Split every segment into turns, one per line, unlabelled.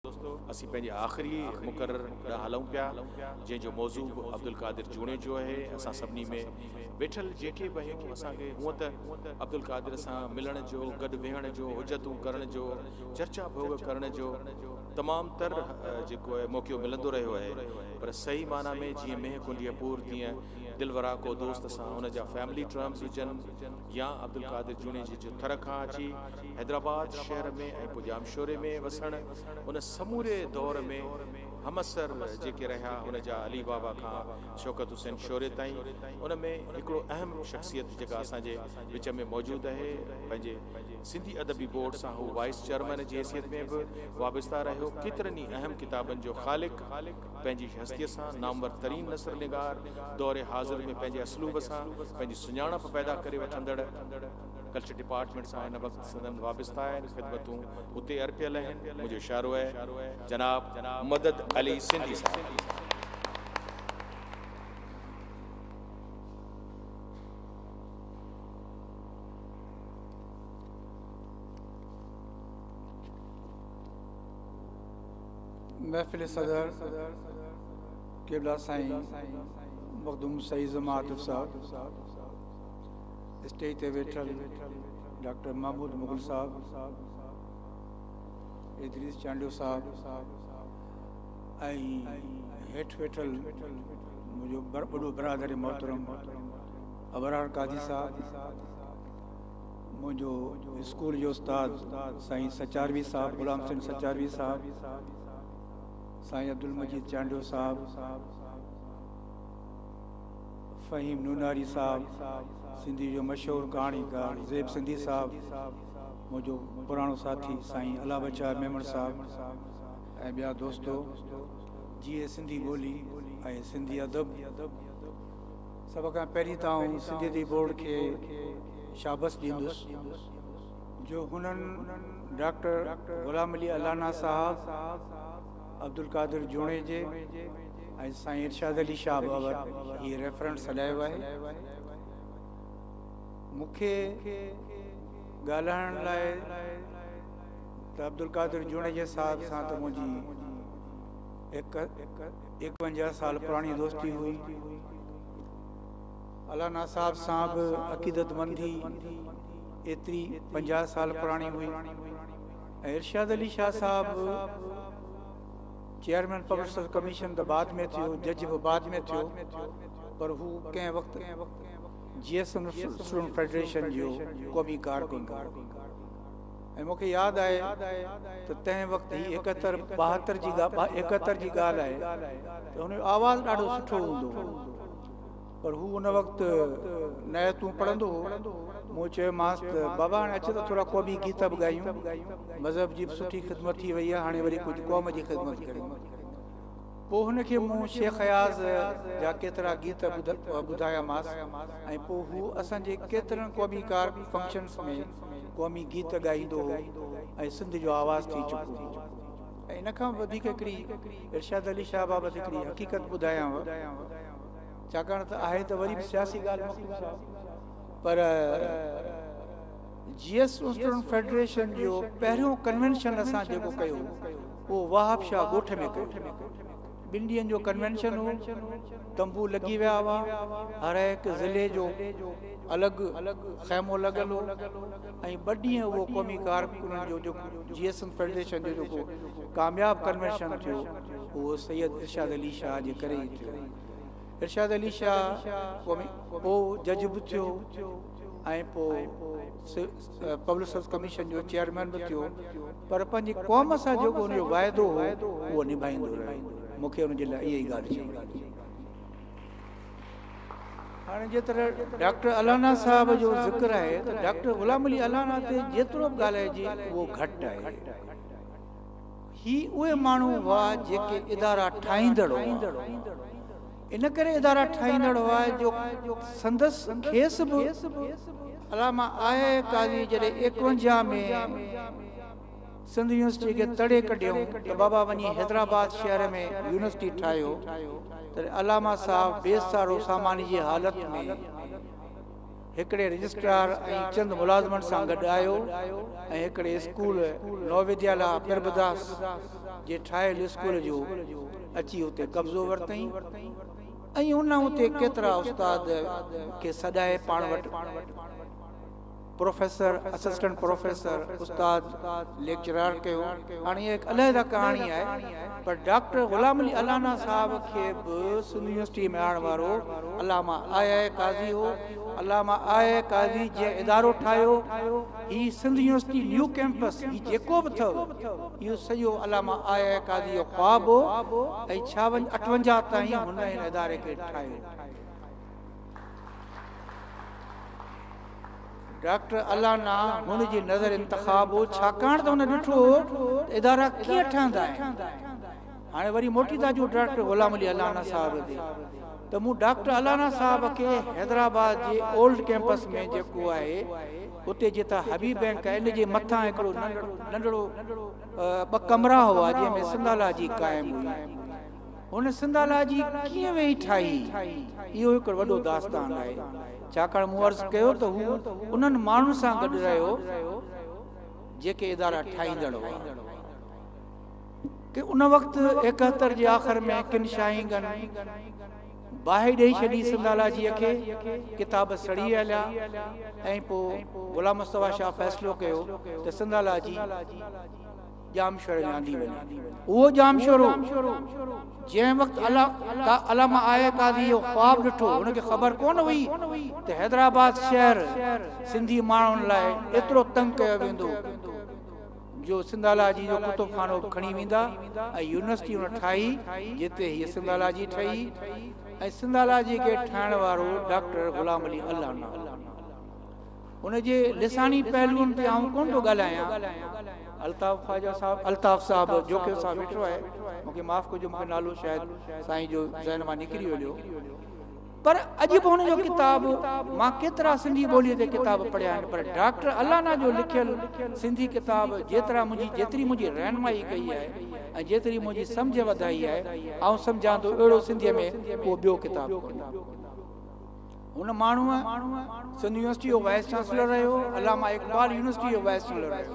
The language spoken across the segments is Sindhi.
دوستو اسين پنهنجي آخري مقرر ڏانهن هلون پيا جنهن جو موضوع به عبدالقادر جوڻيجو آهي اسان سڀني ۾ ويٺل جيڪي به آهيون اسان کي هونء ته عبدالقادر سان ملڻ جو گڏ ويهڻ جو حجتون ڪرڻ جو چرچا ڀوڳ ڪرڻ جو تمام تر جيڪو آهي موقعو ملندو رهيو آهي پر صحيح معنيٰ ۾ جيئن مينهن ڪنڊيء پور تيئن دلوراڪو دوست سان ان جا فيملي ٽرمز هجن يا عبدالقادر جوڻيجي جو ٿر کان اچي حيدرآباد شهر ۾ ۽ پوء ڄامشوري ۾ وسڻ، ان سموري دور ۾ همعصر جيڪي رهيا ان جا علي بابا کان شوڪت حسين شوري تائين، ان ۾ هڪڙو اهم شخصيت جيڪا اسان جي وچ ۾ موجود اهي پنهنجي سنڌي ادبي بورڊ سان هو وائيس چيئرمين جي حيثيت ۾ به وابسته رهيو ڪيترن ئي اهم ڪتابن جو خالق، پنهنجي هستيء سان نامور ترين نثر نگار، دور حاضر ۾ پنهنجي اسلوب سان پنهنجي سڃاڻپ پيدا ڪري وٺندڙ ڪلچر ڊپارٽمينٽ سان هن وقت سندن وابسته آهن خدمتون اتي ارپيل اهن منهنجو اشارو اهي جناب مدد علي سنڌي صاحب کي.
محفل صدر قبلا سائين مخدوم سعيد زمان عاطف صاحب اسٽيج تي ويٺل ڊاڪٽر محمود مغل صاحب ادريس چانڊيو صاحب هيٺ ويٺل منهنجو وڏو برادر محترم ابرار قاضي صاحب منهنجو اسڪول جو استاد سائين سچاروي صاحب غلام حسين سچاروي صاحب، سائين عبدالمجيد چانڊيو صاحب، فهيم نوناري صاحب، سنڌيء جو مشهور ڪهاڻيڪار زيب سنڌي صاحب، منهنجو پراڻو ساٿي سائين الله بچايو ميمڻ صاحب ۽ ٻيا دوستو جيئي سنڌي ٻولي ۽ سنڌي ادب سڀ کان پهرين ته آئون سنڌي ادبي بورڊ کي شابس ڏيندس جو هنن ڊاڪٽر غلام علي الانا صاحب، عبدالقادر جوڻيجي ۽ سائين ارشاد علي شاهه بابت هي ريفرنس هلايو آهي. مون کي ڳالهائڻ لاء ته عبدالقادر جوڻيجي صاحب سان ته منهنجي هڪ ايڪونجاهه سال پراڻي دوستي هئي. الانا صاحب سان به عقيدتمندي ايتري پنجاهه سال پراڻي هئي ۽ ارشاد علي شاهه صاحب چيئرمين پبلڪ سروس ڪميشن ته بعد ۾ ٿيو، جج به بعد ۾ ٿيو پر هو ڪنهن وقت J S M student federation جو قومي ڪارڪن هو. ۽ مون کي ياد آهي ته تنهن وقت هي ايڪهتر ٻاهتر جي ايڪهتر جي ڳالهه آهي ته هن جو آواز ڏاڍو سٺو هوندو هو پر هو ان وقت نعتون پڙهندو هو مون چيومانس ته بابا هاڻي اچ ته ٿورا قومي گيت به ڳايون مذهب جي به سٺي خدمت ٿي وئي آهي هاڻي وري ڪجهه قوم جي خدمت ڪريون پوء هن کي مون شيخ اياز جا ڪيترا گيت ٻڌايامانس ۽ پوء هو اسان جي ڪيترن قومي ڪار فنڪشنس ۾ قومي گيت ڳائيندو هو ۽ سنڌ جو آواز ٿي چڪو هو ۽ ان کان به وڌيڪ هڪڙي ارشاد علي شاهه بابت هڪڙي حقيقت ٻڌايانو ڇاڪاڻ ته آهي ته وري به سياسي ڳالهه مخدوم صاحب پر جي ايس اسٽوڊنٽ فيڊريشن جو پهريون ڪنوينشن اسان جيڪو ڪيو هو اهو وهاب شاهه ڳوٺ ۾ ڪيو ٻن ڏينهن جو ڪنوينشن هو، تنبو لڳي ويا هئا، هرهڪ ضلعي جو الڳ خيمو لڳل هو ۽ ٻه ڏينهن اهو قومي ڪارڪنن جو جيڪو جي ايس ايم فيڊريشن جو جيڪو ڪامياب ڪنوينشن ٿيو اهو سيد ارشاد علي شاهه جي ڪري ئي ٿيو. ارشاد علي شاهه قومي پوء جج به ٿيو ۽ پوء پبلسز ڪميشن جو چيئرمين به ٿيو پر پنهنجي قوم سان جيڪو هن جو واعدو هو اهو نڀائيندو رهيو مون کي ان جي لاء اها ئي ڳالهه چوڻي هئي. هاڻي جي طرح ڊاڪٽر الانا صاحب جو ذڪر آهي ته ڊاڪٽر غلام علي الانا تي جيترو به ڳالهائجي اهو گهٽ آهي. هي اهي ماڻهو هئا جيڪي ادارا ٺاهيندڙ هئا. ان ڪري ادارا ٺاهيندڙ هئا جو سندس کيس به علامه آء قاضي جڏهن ايڪونجاهه ۾ سنڌ يونيورسٽي کي تڙي ڪڍيائون ته بابا وڃي حيدرآباد شهر ۾ يونيورسٽي ٺاهيو تڏهن علامه صاحب بي سارو ساماني جي حالت ۾ هڪڙي رجسٽرار ۽ چند ملازمن سان گڏ آيو ۽ هڪڙي اسڪول نووديالا پرڀداس جي ٺاهيل اسڪول جو اچي اتي قبضو ورتئين ۽ ان اتي ڪيترا استاد کي سڏائي پاڻ وٽ پروفيسر، اسسٽنٽ پروفيسر، استاد، ليڪچرار ڪيو. هاڻ اها هڪ علحده ڪهاڻي آهي. پر ڊاڪٽر غلام علي الانا صاحب کي به سنڌ يونيورسٽيء ۾ آڻڻ وارو علامه آء آء قاضي هو. علامه آء آء قاضي جنهن ادارو ٺاهيو، هي سنڌ يونيورسٽي نيو ڪئمپس، هي جيڪو به اٿئو، اهو سڄو علامه آء آء قاضي جو خواب هو ۽ ڇاونجھ اٺونجاهه تائين هن هن اداري کي ٺاهيو. ڊاڪٽر الانا هن جي نظر انتخاب هو، ڇاڪاڻ ته هن ڏٺو هو ته ادارا ڪيئن ٺهندا آهن. هاڻي وري موٽي ٿا اچون ڊاڪٽر غلام علي الانا صاحب تي ته مون ڊاڪٽر الانا صاحب کي حيدرآباد جي اولڊ ڪيمپس ۾ جيڪو آهي اتي جتان حبيب بئنڪ آهي ان جي مٿان هڪڙو ننڍڙو ٻه ڪمرا هئا جنهن ۾ سنڌالاجي قائم هئي. هن سنڌالاجي ڪيئن ويهي ٺاهي، اهو هڪ وڏو داستان آهي، ڇاڪاڻ مون عرض ڪيو ته هو انهن ماڻهن سان گڏ رهيو، جيڪي ادارا ٺاهيندڙ هئا. ڪي ان وقت ايڪهتر جي آخر ۾ ڪن شاهينگن باهه ڏيئي ڇڏي سنڌالاجيء کي، ڪتاب سڙي هليا ۽ پوء غلام مصطفيٰ شاهه فيصلو ڪيو ته سنڌالاجي، ڄامشوري لياندي وڃي. اهو ڄامشورو جنهن وقت علامه آء قاضي اهو خواب ڏٺو، هن کي خبر ڪونه هئي ته حيدرآباد شهر سنڌي ماڻهن لاء ايترو تنگ ڪيو ويندو جو سنڌالاجي جو ڪتب خانو به کڻي ويندا ۽ يونيورسٽي هن ٺاهي جتي هيء سنڌالاجي ٺهي ۽ سنڌالاجي کي ٺاهڻ وارو ڊاڪٽر غلام علي الانا هو. ان جي لساني پهلوئن تي آئون ڪونه ٿو ڳالهايان. الطاف خواجه صاحب، الطاف صاحب، جوکي صاحب ويٺو آهي، مون کي معاف ڪجو، مون کي نالو شايد سائين جو ذهن مان نڪري هليو. پر اڄ به هن جو ڪتاب، مان ڪيترا سنڌي ٻوليء تي ڪتاب پڙهيا آهن، پر ڊاڪٽر الانا جو لکيل سنڌي ڪتاب جيترا منهنجي، جيتري منهنجي رهنمائي ڪئي آهي ۽ جيتري منهنجي سمجهه وڌائي آهي، آئون سمجهان ٿو اهڙو سنڌيء ۾ ڪو ٻيو ڪتاب ڪونهي. هن ماڻهوء سنڌ يونيورسٽيء جو وائيس چانسلر رهيو، علامه اقبال يونيورسٽيء جو وائيس چانلر رهيو.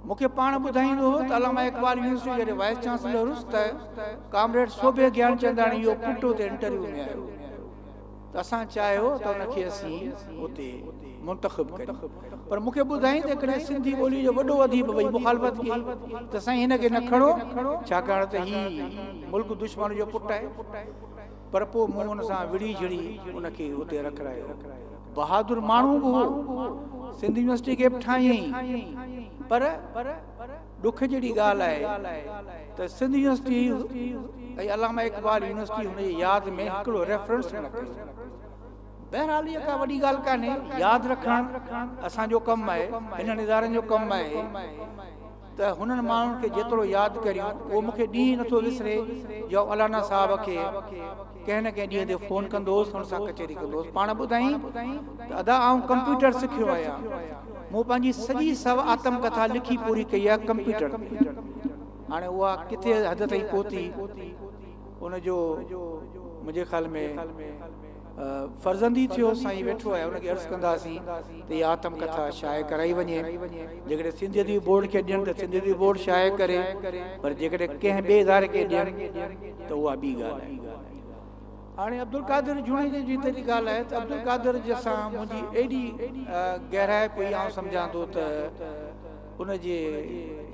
مون کي پاڻ ٻڌائيندو هو ته علامه اقبال يونيورسٽيء جڏهن وائيس چانسلر هوس ته ڪامريڊ سوڀي گيانچنداڻي اهو پٽ اتي انٽرويو ۾ آيو ته اسان چاهيو ته ان کي اسين اتي منتخب ڪريون پر مون کي ٻڌائين ته ڪڏهن سنڌي ٻوليء جو وڏو اديب وئي مخالفت ڪئي ته سائين هن کي نه کڻو ڇاڪاڻ ته هي ملڪ دشمن جو پٽ آهي. پر پوء مون ان سان وڙهي جھڙي ان کي اتي رکرايو. بهادر ماڻهو به هو. سنڌ يونيورسٽيء کي به ٺاهيائين. پر ڏک جھڙي ڳالهه آهي ته سنڌ يونيورسٽيء ۽ علامه اقبال يونيورسٽيء هن جي ياد ۾ هڪڙو ريفرنس به نه ڪيو. بهرحال اها ڪا وڏي ڳالهه ڪانهي. ياد رکڻ اسان جو ڪم آهي، هنن ادارن جو ڪم آهي. ته هنن ماڻهن کي جيترو ياد ڪريون اهو مون کي ڏينهن ئي نٿو وسري جو الانا صاحب کي ڪنهن نه ڪنهن ڏينهن تي فون ڪندو هوس هن سان ڪچهري ڪندو هوس پاڻ ٻڌائين ته ادا آئون ڪمپيوٽر سکيو آهيان مون پنهنجي سڄي سو آتم ڪٿا لکي پوري ڪئي آهي ڪمپيوٽر تي هاڻي اها ڪٿي حد تائين پهتي ان جو منهنجي خيال ۾ فرزندي ٿيو سائين ويٺو آهي ان کي عرض ڪنداسين ته هي آتم ڪٿا شايع ڪرائي وڃي جيڪڏهن سنڌ ادبي بورڊ کي ڏين ته سنڌ ادبي بورڊ شايع ڪري پر جيڪڏهن ڪنهن ٻئي اداري کي ڏين ته اها ٻي ڳالهه آهي هاڻي عبدالقادر جوڻيجي جي تيڏي ڳالهه آهي ته عبدالقادر جي سان منهنجي ايڏي گهرائپ هئي آئون سمجهان ٿو ته ان جي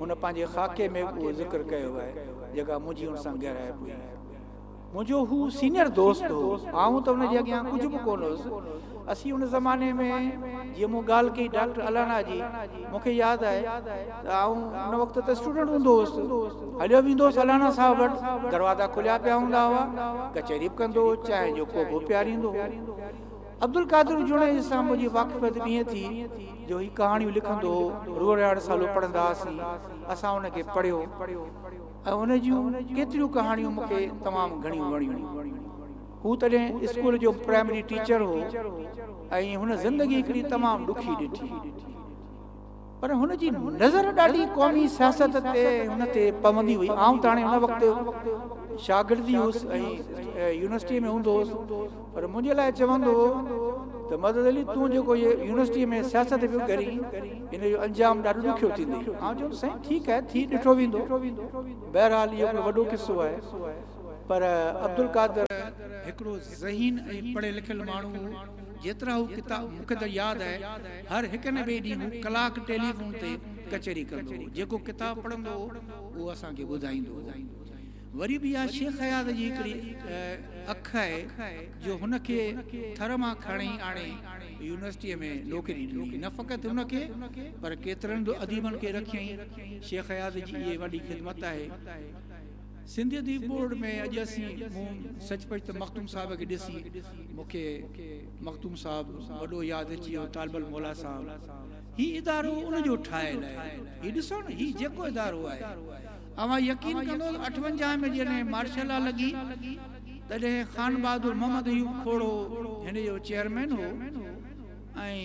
هن پنهنجي خاڪي ۾ به اهو ذڪر ڪيو آهي جيڪا منهنجي ان سان گهرائپ هئي منهنجو هو سينئر دوست هو، آئون ته ان جي اڳيان ڪجهه به ڪونه هيس. اسين ان زماني ۾ جيئن مون ڳالهه ڪئي ڊاڪٽر الانا جي، مون کي ياد آهي ته آئون ان وقت ته اسٽوڊنٽ هوندو هوس. هليو ويندو هوس الانا صاحب وٽ، دروازا کليا پيا هوندا هئا، ڪچهري به ڪندو هو، چانهه جو ڪوپ به پياريندو هو. عبدالقادر جوڻيجي سان منهنجي واقفيت به ائين ٿي جو هي ڪهاڻيون لکندو هو، روهڙياڙ سالو پڙهندا هئاسين، اسان ان کي پڙهيو. ۽ ان جون ڪيتريون ڪهاڻيون مون کي تمام گهڻيون وڻيون. هو تڏهن اسڪول جو پرائمري ٽيچر هو ۽ هن زندگي هڪڙي تمام ڏکي ڏٺي. پر هن جي نظر ڏاڍي قومي سياست تي هن تي پوندي هئي. آئون ته هاڻي ان وقت شاگرد ئي هوس ۽ يونيورسٽيء ۾ هوندو هوس. پر منهنجي لاء چوندو هو ته مدد علي تون جيڪو هيء يونيورسٽيء ۾ سياست پيو ڪرين، ان جو انجام ڏاڍو ڏکيو ٿيندئي. آئون چيم ته سائين ٺيڪ آهي، ٿي ڏٺو ويندو. بهرحال اهو هڪڙو وڏو قصو آهي. پر عبدالقادر. هڪڙو ذهين ۽ پڙهيل لکيل ماڻهو هو. جيترا هو ڪتاب مون کي ته ياد آهي، هر هڪ نه ٻئي ڏينهن هو ڪلاڪ ٽيليفون تي ڪچهري ڪندو هو. جيڪو ڪتاب پڙهندو هو، اهو اسان کي ٻڌائيندو هو. وري به اها شيخ اياز جي هڪڙي اک آهي جو هن کي ٿر مان کڻي آڻي يونيورسٽيء ۾ نوڪري ڏني. نه فقط هن کي پر ڪيترن به اديبن کي رکيائين. شيخ اياز جي اهي وڏي خدمت آهي. سنڌ اديب بورڊ ۾ اڄ اسين مون سچ پچ ته مخدوم صاحب کي ڏسي مون کي مخدوم صاحب وڏو ياد اچي ويو طالب الموليٰ صاحب هي ادارو ان جو ٺاهيل آهي. هي ڏسو نه هي جيڪو ادارو آهي. اوهان يقين ڪندو ته اٺونجاهه ۾ جڏهن مارشل لا لڳي تڏهن خان بهادر محمد ايوب کوڙو هن جو چيئرمين هو ۽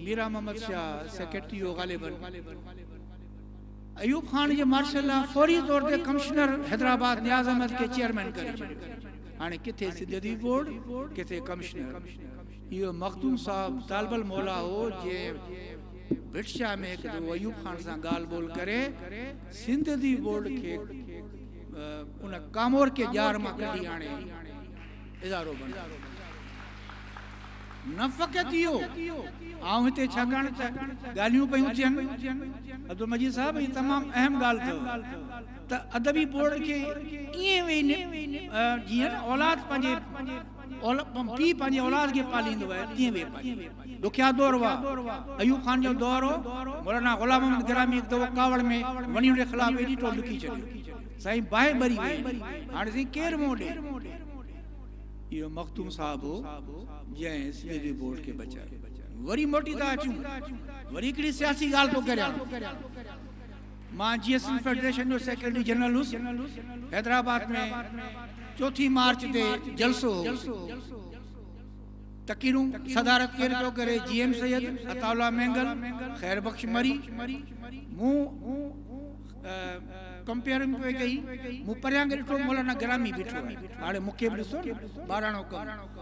ميران محمد شاهه سيڪريٽري هو غالباً ايوب خان جي مارشل لا فوري طور تي ڪمشنر حيدرآباد نياز احمد کي چيئرمين ڪري ڇڏيو هاڻي ڪٿي سنڌ ادبي بورڊ ڪٿي ڪمشنر اهو مخدوم صاحب طالب الموليٰ هو جنهن ڀٽ شاهه ۾ هڪ دفعو ايوب خان سان ڳالهه ٻولهه ڪري سنڌ ادبي بورڊ کي ان ڪامورڪي ڄار مان ڪڍي آڻي ادارو بنايو. نه فقط اهو، آئون هتي ڇاڪاڻ ته ڳالهيون پيون ٿين، عبدالمجيد صاحب هي تمام اهم ڳالهه اٿو ته ادبي بورڊ کي ائين ويهي جيئن اولاد پنهنجي پيء پنهنجي اولاد کي پاليندو آهي تيئن ويهي پاليندو. ڏکيا دور هئا. ايوب خان جو دور هو. مولانا غلام محمد گرامي هڪ دفعو ڪاوڙ ۾ وڻي ان جي خلاف ايڏي ٽوڙ لکي ڇڏي. سائين باهه ٻري ويئي هلي. هاڻي سائين ڪير منهن ڏئي. اهو مخدوم صاحب هو جنهن ايس پي جي بورڊ کي بچايو. وري موٽي ٿا اچون. وري هڪڙي سياسي ڳالهه ٿو ڪريان. مان جي ايس ايل فيڊريشن جو سيڪريٽري جنرل هوس. حيدرآباد ۾ چوٿين مارچ تي جلسو هو. تقريرون صدارت ڪير پيو ڪري، G M Syed, Ataullah Mengal, Khair Bakhsh مري. مون ڪمپيئرنگ پئي ڪئي. مون پريان کي ڏٺو مولانا گرامي بيٺو آهي. هاڻي مون کي به ڏسو نه، ٻاراڻو ڪم.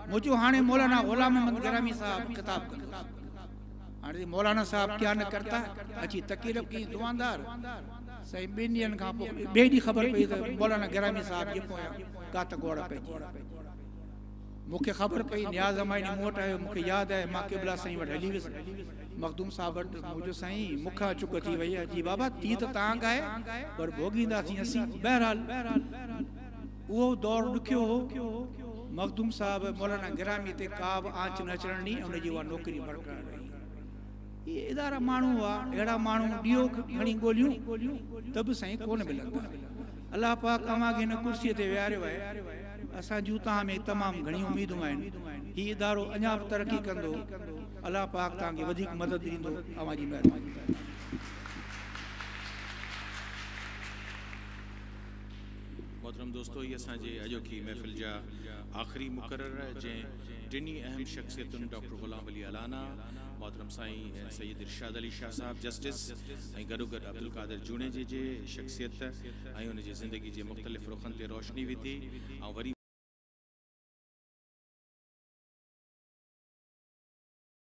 مون چيو هاڻي مولانا غلام محمد گرامي صاحب خطاب ڪندس. هاڻي جي مولانا صاحب ڪيا نه ڪرتا اچي تقريب ڪئي دعاندار سائين ٻن ڏينهن کان پوء ٻئي ڏينهن خبر پئي ته مولانا گرامي صاحب جي پويان ڪات گوڙ پئجي مونکي خبر پئي نياز امائني مون وٽ آيو مونکي ياد آهي مان قبلا سائين وٽ هلي ويس مخدوم صاحب وٽ منهنجو سائين مونکان چڪ ٿي وئي جي بابا ٿي ته تانگ آهي پر ڀوڳينداسين اسين بهرحال اهو دور ڏکيو هو. مخدوم صاحب مولانا گرامي تي ڪابه آنچ نه اچڻ ڏني ۽ ان جي اها نوڪري برقرار رهي. اهي ادارا ماڻهو هئا، اهڙا ماڻهو ڏيئو کڻي ڳوليون ته به سائين ڪونه ملندا. الله پاڪ اوهان کي هن ڪرسيء تي ويهاريو آهي. اسان جون توهان ۾ تمام گهڻيون اميدون آهن. هي ادارو اڃا به ترقي ڪندو. الله پاڪ توهان کي وڌيڪ مدد ڏيندو. اوهان جي مهرباني.
محترم دوستو هي اسان جي اڄوڪي محفل جا آخري مقرر جنهن ٽنهي اهم شخصيتن ڊاڪٽر غلام علي الانا، محترم سائين سيد ارشاد علي شاهه صاحب جسٽس ۽ گڏوگڏ عبدالقادر جوڻيجي جي شخصيت ۽ ان جي زندگي جي مختلف رخن تي روشني وڌي ۽ وري